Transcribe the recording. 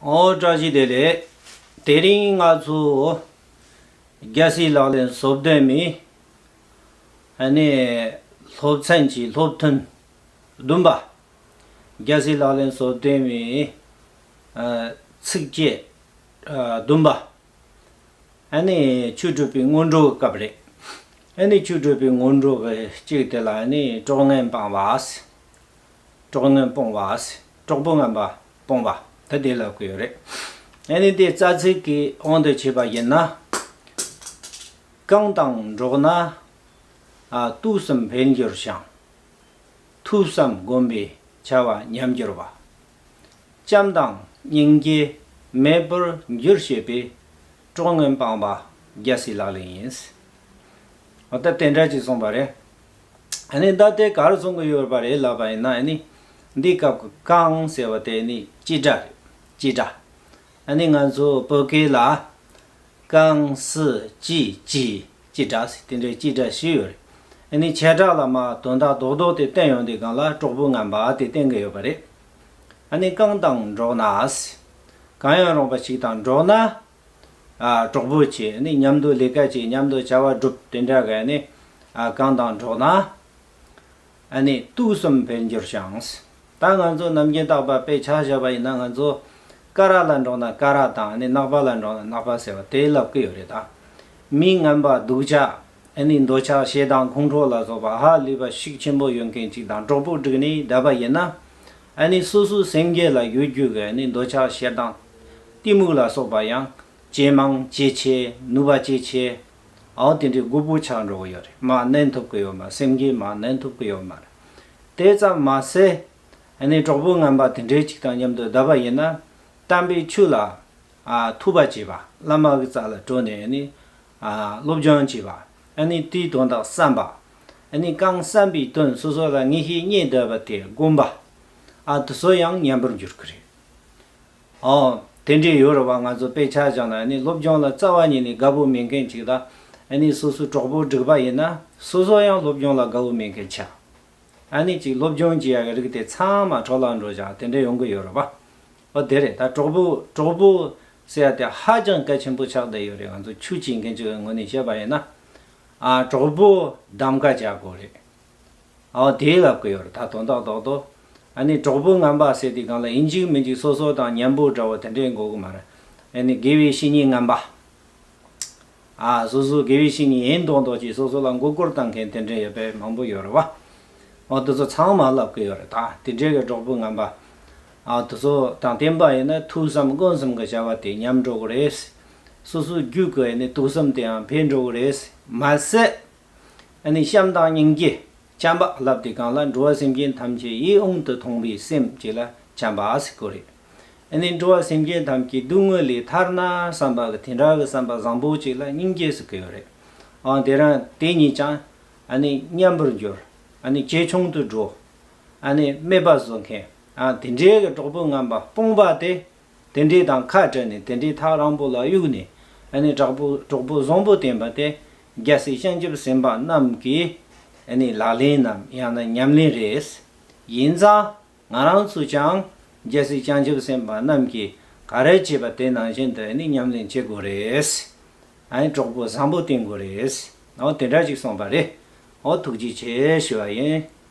བཀྲ་ཤིས་བདེ་ལེགས། དེ་རིང་ང་ཚོ་རྒྱལ་སྲིད་ལག་ལེན་བཟོ་བདེ་མིན། སློབ་ཚན་གྱི་སློབ་ཐུན་བདུན་པ། རྒྱལ་སྲིད་ལག་ལེན་བཟོ་བདེ་མིན། ཚིགས་བཅད་བདུན་པ། ཆོས་སྤྲུལ་པའི་སྔོན་འགྲོའི་སྐབས་རེད། ཆོས་སྤྲུལ་པའི་སྔོན་འགྲོ་གཅིག་དེ་ལ་ཀྲོག་ངན་སྤང་བ། ཀྲོག་ངན་སྤོང་བ། གྲོགས་པོ་ངན་པ་སྤོང་བ་ད་བདེ་ལ་གོ་ཡོད་རེད། ཨ་ནི་དེ་རྩ་ཚིག་གི་དབང་དུ་བྱས་པ་ཡིན་ན། རྐང་དང་འགྲོགས་ན། ཐུགས་བསམ་འཕེལ་འགྱུར་བྱང། ཐུགས་བསམ་སྒོམ་པའི་བྱ་བ་ཉམས་འགྱུར་བ། བྱམས་དང་སྙིང་རྗེ་མེད་པར་འགྱུར་ཞེས་པའི་གྲོགས་ངན་སྤང་བ་རྒྱལ་སྲིད་ལག་ལེན་ཡིན། ད་དེ་འདྲ་གཅིག་གསུངས་པ་རེད། ཨ་ནི་ད་དེ་གར་སོང་གི་ཡོད་པ་རེད་ལབ་པ་ཡིན་ན་ཨ་ནི། འདི་སྐབས་ཀྱི་ཀང་ཟེར་བ་དེ་ནི་སྐྱིད་སྒྲ་རེད་སྐྱིད་སྒྲ། ཨ་ནི་ང་ཚོ་བོད་སྐད་ལ། ཀང་སི་ཅི་ཅི་སྐྱིད་སྒྲ་ཟེར་དེ་འདྲའི་སྐྱིད་སྒྲ་ཞིག་ཡོད་རེད། ཨ་ནི་བྱེ་བྲག་ལ་མ་དོན་དག་རྡོག་རྡོག་དེ་བསྟན་ཡོང་དེ་སྒང་ལ་གྲོགས་པོ་ངན་པ་དེ་བསྟན་གི་ཡོད་པ་རེད། ཨ་ནི་ཀང་དང་འགྲོགས་ན། གང་ཡང་རུང་བ་ཞིག་དང་འགྲོགས་ན། གྲོགས་པོ་བྱས་ནས་མཉམ་དུ་ལས་ཀ་བྱས་མཉམ་དུ་བྱ་བ་སྒྲུབ་དེ་འདྲ་གས་ནས་གང་དང་འགྲོགས་ན་དུག་གསུམ་འཕེལ་འགྱུར་བྱང། ད་ང་ཚོ་ནམ་རྒྱུན་རྟག་པ་དཔེ་ཆ་བཞག་པ་ཡིན་ན་ང་ཚོ་ཀ་ར་ལ་འགྲོགས་ན་ཀ་ར་དང་ནག་པ་ལ་འགྲོགས་ན་ནག་པ་ཟེར་བ་དེ་ལབ་ཀི་ཡོད་རེད་ད། མི་ངན་པ་སྡུག་ཅག་འདོད་ཆགས་ཞེ་སྡང་ཁོང་ཁྲོ་ལ་སོགས་པ་ཧ་ལུས་པ་ཤུགས་ཆེན་པོ་ཡོད་མཁན་གཅིག་དང་གྲོགས་པོ་བསྒྲིགས་ནས་བསྡད་པ་ཡིན་ན། ཨ་ནི་སོ་སོའི་སེང་གེ་ལ་གཡོ་སྒྱུ་གི་ཨ་ནི་འདོད་ཆགས་ཞེ་སྡང། གཏི་མུག་ལ་སོགས་པ་ཡང། ཇེ་མང་ཇེ་ཆེ་ནུབ་པ་ཇེ་ཆེ། ཨའོ་དེ་འདྲའི་དགུ་པོ་ཆགས་འགྲོ་གི་ཡོད་རེད་མ་གནས་ཐུབ་གི་ཡོད་མ་སེང་གེ་མ་གནས་ཐུབ་གི་ཡོད་མ་རེད། དེ་ཙམ་མ་ཟད། ཨ་ནི་གྲོགས་པོ་རྔན་པ་དེ་འདྲའི་གཅིག་དང་མཉམ་དུ་བསྡད་པ་ཡིན་ན། གཏམ་པའི་ཆུ་ལ། ཐུག་པ་བྱས་པ་བླ་མ་གི་རྩ་ལ་བྲོས་ནས་ཨ་ནི། སློབ་སྦྱོང་བྱེད་པ། བཀྲིས་དོན་དག་བསམ་པ། རྐང་བསམ་པའི་དོན་སོ་སོ་ལ་ངེས་ཤེས་རྙེད་འདོད་པ་དེ་སྒོམ་པ། དུ་སོ་ཡང་ཉམས་པར་འགྱུར་གི་རེད། དེ་འདྲའི་ཡོད་རེད་བ་ང་ཚོ་དཔེ་ཆ་བཞག་ན་སློབ་སྦྱོང་ལ་རྩ་བ་ཉིད་ནས་དགའ་པོ་མེད་མཁན་ཅིག་ལ། སོ་སོའི་གྲོགས་པོ་སྒྲིག་པ་ཡིན་ན་སོ་སོ་ཡང་སློབ་སྦྱོང་ལ་དགའ་བོ་མེད་མཁན་ཆགས། ཅིག་སློབ་སྦྱོང་བྱེད་ཡག་གི་རིགས་དེ་ཚང་མ་གྲོགས་ལ་འགྲོ་བཞག་དེ་འདྲ་ཡོང་གི་ཡོད་རེད་བ། ཨོ་དེ་རེད་ད་གྲོགས་པོ་གྲོགས་པོ། ཟེར་ཡ་དེ་ཧ་ཅང་གལ་ཆེན་པོ་ཆགས་བསྡད་ཡོད་རེད་ང་ཚོ་ཆུ་བྱིད་མཁན་ཚོའི་ངོས་ནས་བཤད་པ་ཡིན་ན། ཨ་གྲོགས་པོ་གདམ་ག་བྱ་དགོས་རེད། ཨོ་དེའི་ལབ་ཀི་ཡོད་རེད་ད་དོན་དག་དོག་དོག། ཨ་ནི་གྲོགས་པོ་རྔམ་པ་ཟེར་དེ་གང་ལ་ཡིན་འཇིགས་མི་འཇིགས་སོ་སོ་དང་མཉམ་པོ་འདྲ་བོ་དེ་འདྲས་འགོ་གི་མ་རེད། ཨེ་ནི་དགེ་བའི་བཤེས་གཉེན་རྔམ་པ། སོ་སོའི་དགེ་བའི་བཤེས་གཉེན་ཡིན་མདོག་མདོག་གྱིས་སོ་སོ་ལ་མགོ་སྐོར་བཏང་མཁན་དེ་འདྲའི་ཡོད་པས་མང་པོ་ཡོད་རེད་བ། འོ་དེ་ཚོ་ཚང་མ་ལབ་ཀི་ཡོད་རེད་ད་དེ་འདྲའི་གི་གྲོགས་པོ་ངན་པ། དེ་ཚོ་དང་བསྟན་པ་ཡིན་ན་ཐུགས་བསམ་དཀོན་བསམ་གི་བྱ་བ་དེ་ཉམས་འགྲོ་གི་རེད། སོ་སོའི་རྒྱུད་གི་ཡིན་ནའི་ཐུགས་བསམ་དེའང་འཕེལ་འགྲོ་གི་རེད། མ་ཟད། ཡིན་ནའི་བྱམས་དང་སྙིང་རྗེ། བྱམས་པ་ལབ་དེ་གང་ལ་འགྲོ་བ་སེམས་ཅན་ཐམས་ཅད་ཡིད་དབང་དུ་ཐོངས་པའི་སེམས་བསྐྱེད་ལ་བྱམས་པ་ཟེར་གི་རེད། ཨ་ནི་འགྲོ་བ་སེམས་ཅན་ཐམས་ཀྱི་སྡུག་བསྔལ་ལས་ཐར་ན་བསམ་པ་གི་དེ་འདྲ་གི་བསམ་པ་བཟང་པོ་ཅིག་ལ་སྙིང་རྗེས་སུ་གོས་རེད་ཨང་དེ་རང་དེ་ཉིད་ཀྱང་ཨ་ནི་མཉམ་པོར་འགྱུར་ཨ་ནི་ཇེ་ཆུང་དུ་འགྲོ་ཨ་ནི་སྨད་པ་བཟོ་མཁན་ཨང་དེ་འདྲའི་གི་གྲོགས་པོ་རྔམ་པ་སྤོང་པ་དེ་དེ་འདྲའི་དང་ཁ་བྲལ་ནས་དེ་འདྲའི་ཐག་རང་པོ་ལ་གཡུགས་ནས་ཨ་ནི་གྲགས་པོ་གྲོགས་པོ་བཟང་པོ་བསྟེན་པ་དེ་རྒྱལ་སྲས་བྱང་ཆུབ་སེམས་དཔའ་རྣམས་ཀྱི་ཨ་ནི་ལག་ལེན་ནམ་ཡང་ན་ཉམས་ལེན་རེད་ཡིན་ཙང་ང་རང་ཚོས་ཀྱང་རྒྱལ་སྲིད་བྱང་ཆུབ་སེམས་དཔའ་རྣམས་ཀྱིས་ག་རེ་བྱས་པ་དེ་ནང་བཞིན་དུ་ནི་ཉམས་ལེན་བྱེད་དགོས་རེད། ཨའི་གྲོགས་པོ་བཟང་པོ་བསྟེན་དགོས་རེད། ཨོ་དེ་འདྲ་ཞིག་གསུངས་པ་རེད། ཨོ་ཐུགས་རྗེ་ཆེ་ཞུ་བ་ཡིན།